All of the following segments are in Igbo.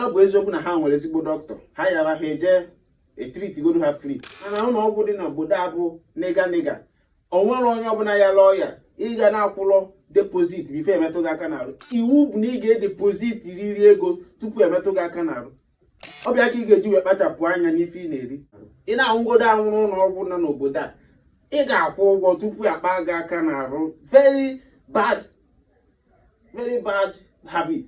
ọ bụ eziokwu na ha nwere ezigbo dọkịta ha yara ha eje e treat godo ha free mana ụlọ ọgwụ dị n'obodo a bụ nịga nịga o nwere onye ọbụla yalụ ọya ị ga na-akwụlụ deposit before e metụ gị aka n'arụ iwu bụ na ị ga-edeposit riri ego tupu e metụ gị aka n'arụ ọ bụ ya ka ị ga-eji wee kpachapụ anya n'ife ị na-eri ị na-anwụgodo anwụ rue ụlọ ọgwụ nọ n'obodo a ị ga-akwụ ụgwọ tupu a kpa gị aka n'arụ very bad very bad habit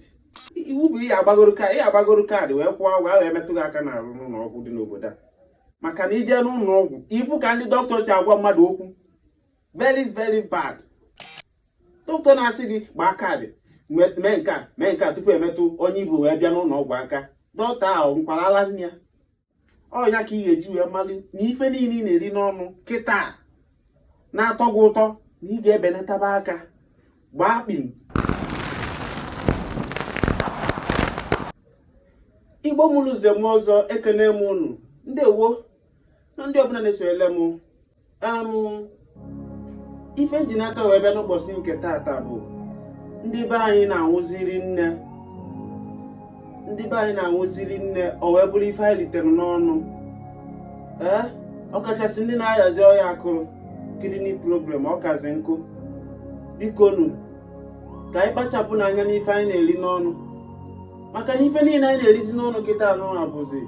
iwu bụ ihe agbagoro ka ihe agbagoro kaadị wee kwụọ ụgwọ ahụ e metụ gị aka n'arụ n'ụlọ ọgwụ dị n'obodo a maka na i je n'ụlọ ọgwụ ị fụ ka ndị dọkịta si agwa mmadụ okwu very very bad dọkịta na-asị gị gbaa kaadị mee nke a mee nke a tupu e metụ onye i bu wee bịa n'ụlọ ọgwụ aka dọkịta ahụ ṅụkwara ala nne ya ọ ya ka ị ga-eji wee mali na ife niile ị na-eri n'ọnụ kịta na-atọ gị ụtọ na ị ga-ebenataba aka gbaa kpim igbo mụrụ nze mụọ ọzọ ekene m unu ndewo nụ ndị ọbụla na-esonyere m ife ji n'aka wee bịa n'ụbọchị nke tata bụ ndị be anyị na-anwụzi rinne ndị be anyị na-anwụzi rinne o wee bụrụ ife anyị ritere n'ọnụ ee ọkachasị ndị na-ayazi ọya akụrụ kidney problem ọ kazi nkụ bikonu ka anyị kpachapụ nụ anya n'ife anyị na-eri n'ọnụ maka na ife niile anyị na-erizi n'ọnụ kịta anụ abụzi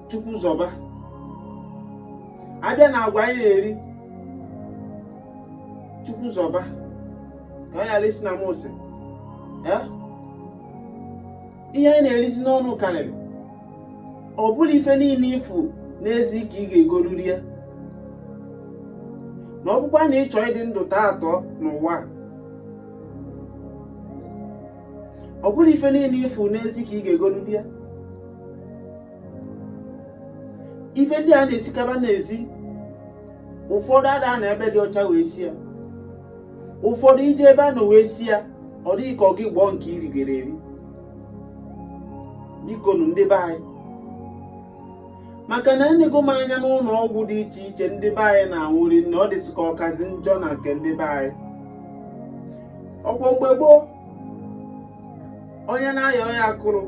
chukwu zọba a bịa na agwa anyị na-eri chukwu zọba ka ọ ghara isi na m ose Eh? ihe anyị na-erizi n'ọnụ karịrị ọ bụrọ ife niile ị fụ n'ezi ka ị ga-egoru rie ya ma ọ bụkwa na ị chọọ ịdị ndụ tọọ atọ n'ụwa a, ọ bụrọ ife niile ị fụ n'ezi ka ị ga-egolu lie ya ife ndị a na-esikaba n'ezi ụfọdụ ada anọ ebe dị ọcha wee sie ya ụfọdụ i je ebe a nọ wee sie ya ọ dị gị ka ọ gị gbọọ nke i rigoro eri biko nụ ndị be anyị maka na enego m anya n'ụlọ ọgwụ dị iche iche ndị be anyị na-anwụ rinne ọ dịzị ka ọ kazi njọ na nke ndị be anyị ọkwa mgbe gboo onye na-aya ọya akụrụ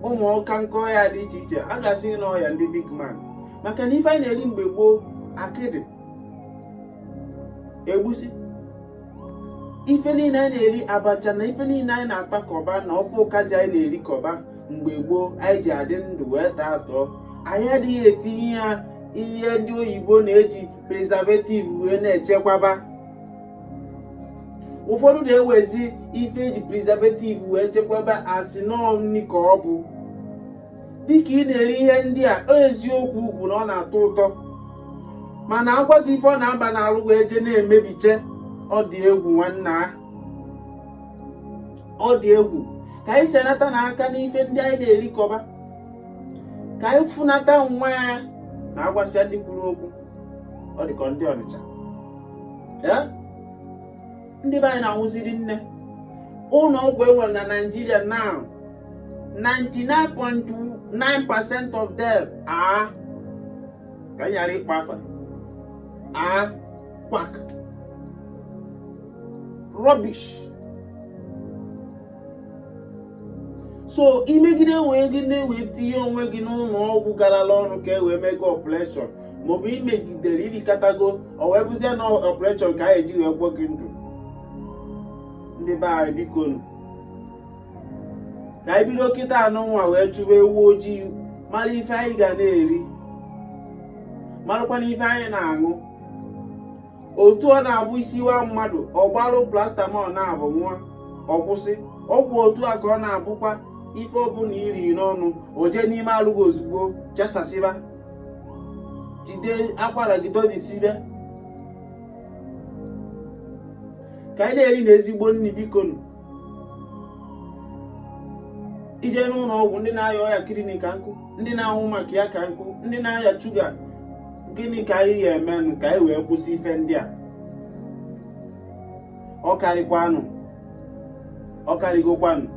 ụmụ ọka nke ọya dị iche iche a ga-asị na ọ ọya ndị big man maka na ife anyị na-eri mgbe gboo akịdị egwusi ife niile anyị na-eri abacha na ife niile anyị na-atakọba na ofe ụkazi anyị na-erikọba mgbe gboo anyị ji adị ndụ wee taa atọ anyị adịghị etinye ya ihe ndị oyibo na-eji preservative wee na-echekwaba ụfọdụ na-ewezi ife eji preservative wee chekwaba asị na ọ nni ka ọ bụ dịka ị na-eri ihe ndị a ọ eziokwu bụ na ọ na-atọ ụtọ mana agwa gị ife ọ na-aba n'alụ wee je na-emebiche ọ dị egwu nwanna a. ọ dị egwu ka anyị senatanụ aka n'ife ndị anyị na-erikọba ka anyị fụnata nwa ya na agwasịa ndị kwuru okwu ọ dị ka ọ ndị Ọnịcha Ee? ndị be anyị na-anwụzi rinne ụnọ ọgwụ enwere na Naịjirịa now 99.9 percent of them are ka anyị ghara ịkpa afa are quack rubbish so imegide onwe gị na-ewe tinye onwe gị n'ụnọ ọgwụ garala ọrụ ka e wee mee gị ọpụreshọn maọbụ imegidere irikatago ọ wee bụzie na ọpụreshọn ka a ya-eji wee gwọ gị ndụ ndị be anyị biko nụ ka anyị bido kịta anwụ na-awa wee chụba ewu ojii mara ife anyị ga na-eri marakwana ife anyị na-aṅụ otu ọ na-abụ isi waa mmadụ ọ kpara paracetamol naabọ ṅụa ọ kwụsị ọgwụ otu a ka ọ na-abụkwa ife ọbụla iri n'ọnụ o jee n'ime alụ gị ozugbo chasasịba jide akwara gị dọbisibe ka anyị na-erinụ ezigbo nni biko nụ i jee n'ụnọ ọgwụ ndị na-aya ọya kidney ka nkụ ndị na-anwụ maka ya ka nkụ ndị na-aya shuga gịnị ka anyị ya-emenụ ka anyị wee kwụsị ife ndị a ọ karịkwanụ ọ karịgokwanụ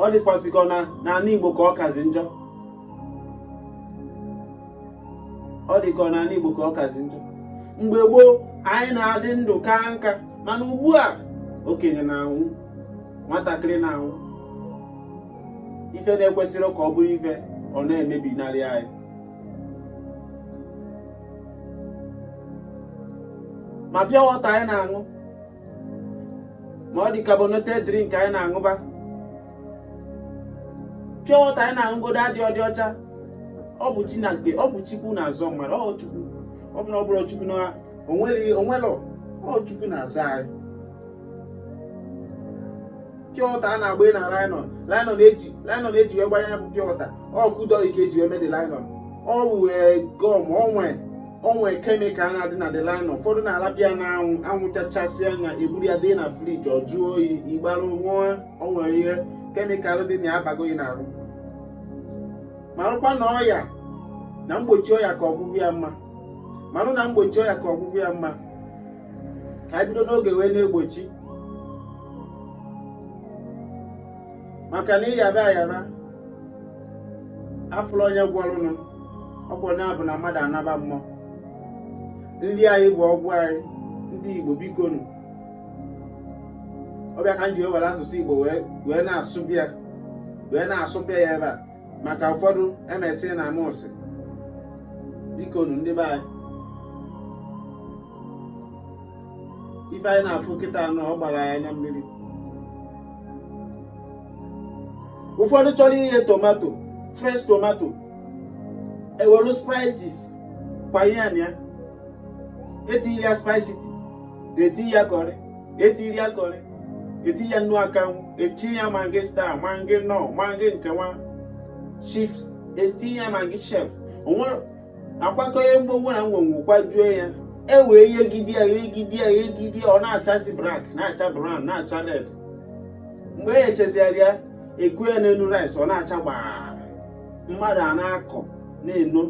ọ dịkwazị ka ọ n'anị Igbo ka ọ kazi njọ ọ dị ka ọ n'anị Igbo ka ọ kazi njọ mgbe gboo anyị na-adị ndụ kaa nka mana ugbu a okenye na-anwụ nwatakịrị na-anwụ ife na-ekwesịrị ka ọ bụrụ ife ọ na-emebi n'arụ anyị ma pure water anyị na-aṅụ ma ụdị carbonated drink anyị na-aṅụba pure water anyị na-aṅụgodu adịrọdị ọcha ọ bụ chineke ọ bụ chukwu na-azọ mmadụ ọ chukwu ọ bụrụ ọ bụrụ chukwu na onwere onwere ọ chukwu na-azọ anyị pure water a na-agba na nylon nylon e ji nylon e ji wee gbanye ya bụ pure water ọkụdọ ike eji wee mebe nylon ọ wee gum o nwee o nwee kemikal na-adị na the nylon ụfọdụ na-alapụ ya na anwụ anwụ chachasịa ya eburu ya dị na friji ọ jụọ oyi igbarụ ṅụọ o nwee ihe kemikal dị na ya abago gị n'ahụ marụkwa na ọya na mgbochi ọya ka ọgwụgwọ ya mma marụ na mgbochi ọya ka ọgwụgwọ ya mma ka anyị bido n'oge wee na-egbochi maka na ị yaba ayaba afụ na onye gwọrụnụ ọgwụ onye bụ na mmadụ anaba mmụọ nri anyị bụ ọgwụ anyị ndị Igbo biko nụ ọ bụ ya ka m ji ewere asụsụ Igbo wee na-asụbịa wee na-asụbịa ya ebe a maka ụfọdụ emesị na m asị biko nụ ndị be anyị ife anyị na-afụ kịta a nụ ọ gbara ya anya mmiri ụfọdụ chọrọ ighe tomato fresh tomato e welu spices kwanye ya na ya etiri ya spices etiri ya curry etiri ya curry etiri ya nnu akanwụ etiri ya Maggi Star Maggi Knorr Maggi nke nwa chips etiri ya Maggi chef o nwere a kwakọọ ihe mgbogbo na ngwongwo kwajue ya e wee yegide ya yegide ya yegide ya ọ na-achazi black na-acha brown na-acha red mgbe e yechezigharị ya e kuo ya n'elu rice ọ na-acha gbaa mmadụ a na-akọ na-eno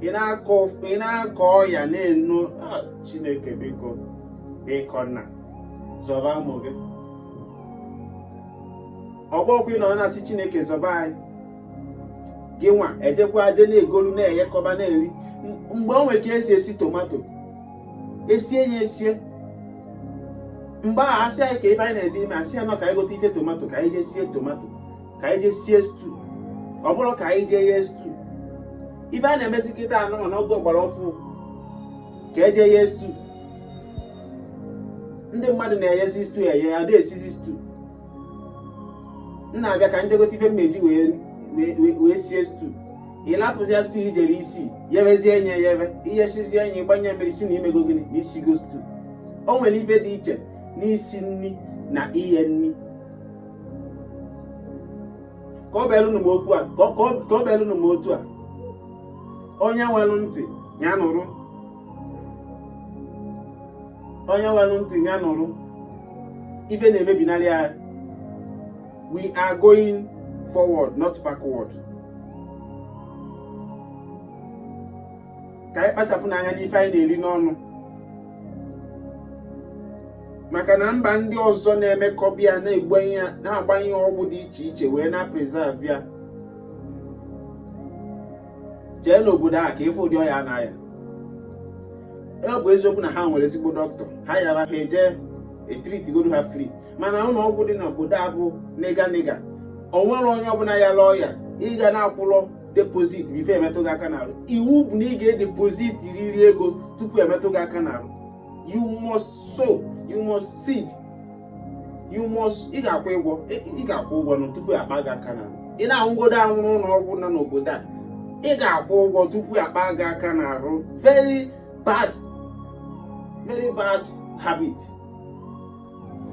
ị na-akọ ị na-akọ ọya na-eno Ah, chineke biko biko nna zọba ụmụ gị ọgbọkwụ ị nọ na-asị chineke zọba anyị gịnwa ejekwa je na-egolu na-eghekọba na-eri mgbe o nwere ka e si esi tomato esie ya esie mgbe a asị anyị ka ife anyị na-eje ime asị ya nọ ka anyị gote ife tomato ka anyị jee sie tomato ka anyị jee sie stew ọ bụrọ ka anyị jee ghee stew ife a na-emezi kịta a nụ na oge ọgbara ọfụụ ka e je ghee stew ndị mmadụ na-eghezi stew eghe a da esizi stew m na-abịa ka m je gote ife m ji wee sie stew ị lapụzie stew i jere isi yebezie enye ya ebe i ghesizie ya gbanye mmiri sị na i mego gịnị na i sigo stew o nwere ife dị iche n'isi nri na ighe nri ka ọ belụnụ n'okwu a ka ọ belụnụ n'otu a onye nwelụ ntị ya nụrụ onye nwere ntị ya nụrụ ife na-emebinarị anyị we are going forward not backward ka anyị kpachapụnụ anya n'ife anyị na-eri n'ọnụ maka na mba ndị ọzọ na-emekọbi ya na-agbanye ọgwụ dị iche iche wee na-preserve ya jee n'obodo ahụ ka ị fụ ụdị ọya a na-aya ọ bụ eziokwu na ha nwere ezigbo dọkịta ha yara ha eje etritigodo ha free mana ụlọ ọgwụ dị n'obodo a bụ na ị ga na ị ga o nwere onye ọbụla yalụ ọya ị ga na-akwụlọ deposit before emetụ gị aka n'arụ iwu bụ na ị ga-edepositriri ego tupu emetụ gị aka n'arụ you must sow you must seed you must ị ga-akwụ ụgwọ ị ga-akwụ ụgwọ nụ tupu akpa gị aka n'arụ ị na-anwụgodo anwụ n'ụlọ ọgwụ nọ n'obodo a ị ga-akwụ ụgwọ tupu akpa gị aka n'arụ very bad very bad habit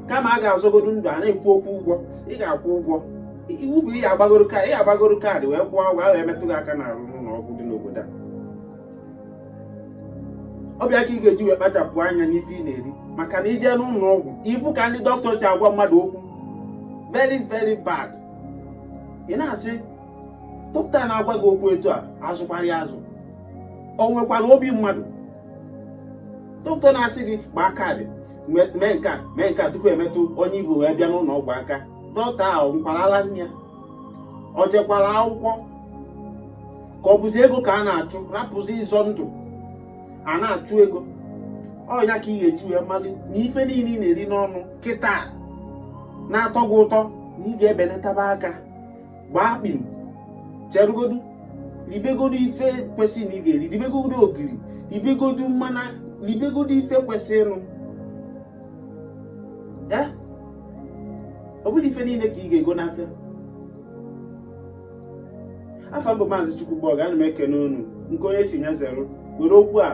kama a ga-azọgodo ndụ a na-ekwu okwu ụgwọ ị ga-akwụ ụgwọ iwu bụ ihe agbagoro kaadị ihe agbagoro kaadị wee kwụọ ụgwọ a wee metụ gị aka n'arụ n'ụlọ ọgwụ dị n'obodo a ọ bụ ya ka ị ga-eji wee kpachapụ anya n'ife ị na-eri maka na i je n'ụlọ ọgwụ ị fụ ka ndị dọkịta si agwa mmadụ okwu very very bad ị na-asị dọkịta na-agwa gị okwu etu a a zụkwara ya azụ o nwekwara obi mmadụ dọkịta na-asị gị gbaa kaadị mee nke a mee nke a tupu emetụ onye i bu wee bịa n'ụlọ ọgwụ aka dọkịta ahụ ọ ṅụkwara ala nne ya ọ jekwara akwụkwọ ka ọ bụzi ego ka a na-achụ rapụzi ịzọ ndụ a na-achụ ego ọ ya ka ị ga-eji wee mali na ife niile ị na-eri n'ọnụ kịta na-atọ gị ụtọ na ị ga-ebelataba aka gbaa akpị cherugodu ribegodu ife kwesịrị na ị ga-eri ribegodu ogiri ribegodu mmana ribegodu ife kwesịrịnụ ee ọ bụrọ ife niile ka ị ga-ego n'afịa afa m bụ maazị chukwugbọọgụ ana m ekene unu nke onye tinye zero were okwu a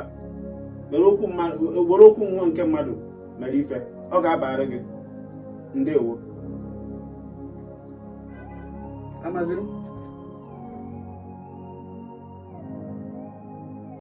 were okwu mmadụ were okwu nwa nke mmadụ mere ife ọ ga-abara gị ndewo amaziri m